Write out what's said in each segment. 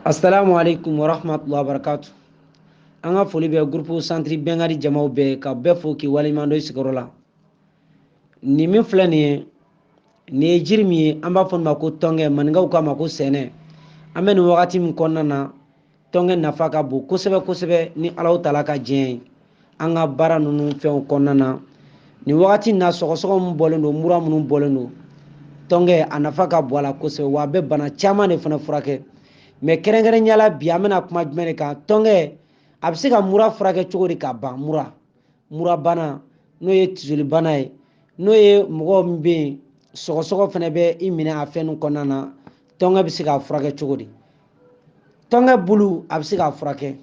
assalamu alaikum warahmatullahi wabarakatu an ka foli bɛ gurupu santiri bɛnkadi jamaw bɛɛ ka bɛɛ fo k'i waleɲuman dɔn i sigiyɔrɔ la nin min filɛ nin ye nin ye jiri min ye an b'a fɔ nin ma ko tɔnkɛ maninkaw k'a ma ko sɛnɛ an bɛ nin wagati min kɔnɔna na tɔnkɛ nafa ka bon kosɛbɛ kosɛbɛ ni alahu tala ka diɲɛ ye an ka baara ninnu fɛnw kɔnɔna na nin wagati na sɔgɔsɔgɔ min bɔlen don mura minnu bɔlen don tɔnkɛ a nafa ka bon a la kosɛbɛ wa a bɛ bana caman de fana furakɛ mɛ kɛrɛnkɛrɛnnenya la bi an bɛna kuma jumɛn de kan tɔnkɛ a bɛ se ka mura furakɛ cogo di ka ban mura mura bana n'o ye tisoli bana ye n'o ye mɔgɔ min bɛ yen sɔgɔsɔgɔ fana bɛ i minɛ a fɛn kɔnɔna na tɔnkɛ bɛ se k'a furakɛ cogo di tɔnkɛ bulu a bɛ se k'a furakɛ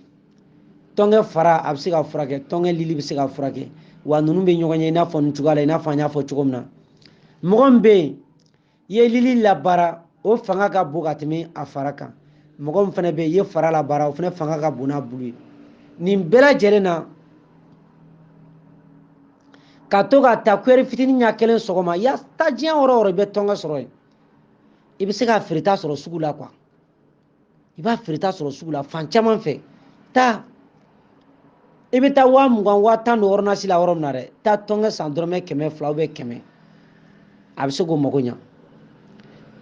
tɔnkɛ fara a bɛ se k'a furakɛ tɔnkɛ lili bɛ se k'a furakɛ wa ninnu bɛ ɲɔgɔn ye i n'a fɔ nin cogoya la i n'a fɔ an y'a fɔ cogo min na mɔgɔ min bɛ yen i ye lili labaara o fanga ka bon ka tɛmɛ a fara kan mɔgɔ min fana bɛ yen i ye fara labaara o fana fanga ka bon n'a bulu ye nin bɛɛ lajɛlen na ka to k'a ta kuyɛri fitinin ɲɛ kelen sɔgɔma ya taa diɲɛ yɔrɔ o yɔrɔ i bɛ tɔnkɛ sɔrɔ yen i bɛ se k'a feereta sɔrɔ sugu la kuwa i b'a feereta sɔrɔ sugu la fan caman fɛ taa i bɛ taa waa mugan waa tan don ordonnance la yɔrɔ min na dɛ taa tɔnkɛ san dɔrɔmɛ kɛmɛ fila ou bien kɛmɛ a bɛ se k'o mago ɲa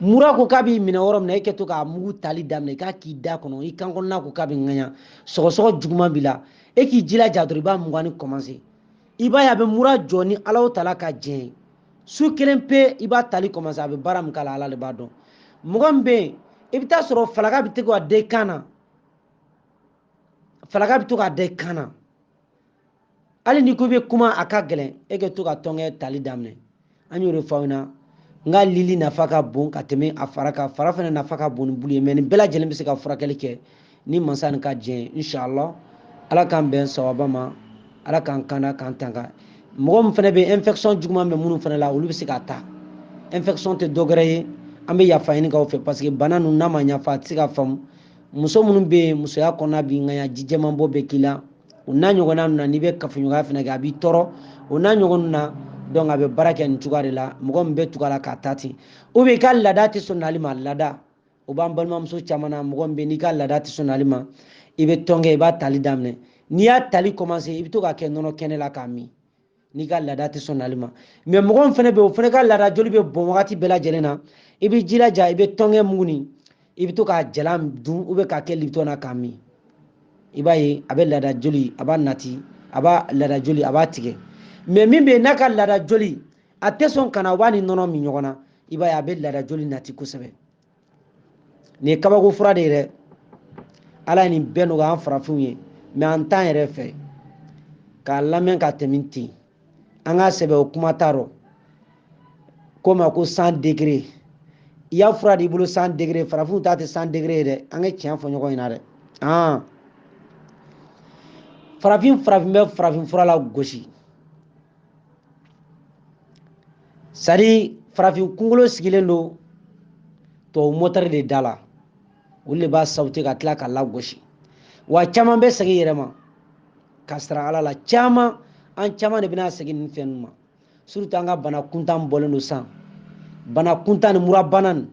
mura ko k'a b'i minɛ yɔrɔ min na e kɛ to k'a mugu tali daminɛ k'a k'i da kɔnɔ i kan kɔnɔna ko k'a bɛ ŋaɲa sɔgɔsɔgɔ juguman b'i la e k'i jilaja dɔrɔn i b'a muganni kɔmanse i b'a ye a bɛ mura jɔ ni alahu tala ka jɛn ye su kelen pe i b'a tali kɔmanse a bɛ baara min k'a la ala de b'a dɔn mɔgɔ min bɛ yen i bɛ t'a sɔrɔ falaka bɛ to ka da i kan na falaka bɛ to ka da i kan na hali n'i ko i bɛ kuma a ka gɛlɛn e ka to ka tɔnkɛ tali daminɛ an y'o de fɔ aw ɲɛ na nka lili nafa ka bon ka tɛmɛ a fara kan fara fana nafa ka bon ni bulu ye mɛ nin bɛɛ lajɛlen bɛ se ka furakɛli kɛ ni mansa nin ka diɲɛ ye inshallah ala k'an bɛn sawaba ma ala k'an kanda k'an tanga mɔgɔ min fana bɛ infection juguman bɛ minnu fana la olu bɛ se k'a ta infection tɛ dɔ wɛrɛ ye an bɛ yafa ɲini k'aw fɛ parce que bana ninnu n'a ma ɲɛfɔ a tɛ se ka faamu muso minnu bɛ yen musoya kɔnɔna b'i ŋaɲa ji jɛman bɔ bɛ k'i la o n'a ɲɔgɔnna ninnu na n'i bɛ kafoɲɔgɔnya fana kɛ a b'i tɔɔrɔ o n'a ɲɔgɔn na donc a bɛ baara kɛ nin cogoya de la mɔgɔ min bɛ tugu a la k'a ta ten ou bien i ka laada tɛ sɔn nali ma laada o b'an balimamuso caman na mɔgɔ min bɛ n'i ka laada tɛ sɔn nali ma i bɛ tɔnkɛ i b'a tali daminɛ n'i y'a tali commencé i bɛ to k'a kɛ nɔnɔ kɛnɛ la k'a min n'i ka laada tɛ sɔn nali ma mɛ mɔgɔ min fana bɛ o fana ka laada joli bɛ bɔn wagati bɛɛ lajɛlen na i bɛ jilaja i bɛ tɔnkɛ mugu nin i bɛ to k'a jalan dun ou bien k'a kɛ lipton na k'a min i b'a ye a bɛ laada joli a b'a nati a b'a laada joli a b'a tigɛ mɛ min bɛ yen n'a ka laada joli a tɛ sɔn ka na u b'a ni nɔnɔ min ɲɔgɔn na i b'a ye a bɛ laada joli nati kosɛbɛ nin ye kabako fura de ye dɛ ala ye nin bɛɛ nɔgɔya an farafinw ye mais an t'an yɛrɛ fɛ k'a lamɛn ka tɛmɛ ten an ka sɛbɛ o kuma t'a rɔ ko ma ko san degere i y'a fura de i bolo san degere farafinw ta tɛ san degere ye dɛ an ka tiɲɛ fɔ ɲɔgɔn ɲɛna dɛ an farafin farafin bɛ farafin fura lagosi c'est-à-dire farafin kunkolo sigilen don tubabu mɔtɛri de da la olu de b'a sabote ka tila k'a lagosi wa caman bɛ segin yɛrɛ ma ka sara ala la caman an caman de bɛna segin nin fɛn ninnu ma surtout an ka bana kuntan bɔlen don san bana kuntan ni murabana nin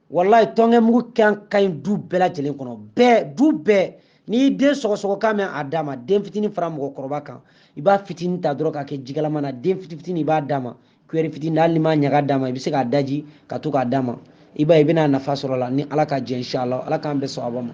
wallahi tɔnkɛ mugu kan ka ɲi du bɛɛ lajɛlen kɔnɔ bɛɛ du bɛɛ n'i y'i den sɔgɔsɔgɔ kan mɛn a d'a ma den fitini fara mɔgɔkɔrɔba kan i b'a fitini ta dɔrɔn k'a kɛ jikalama na den fitini fitini i b'a d'a ma kuyɛri fitini hali n'i m'a ɲaga d'a ma i bɛ se k'a daji ka to k'a d'a ma i b'a ye i bɛna nafa sɔrɔ a la ni ala ka jɛ inshallah ala k'an bɛn sawaba ma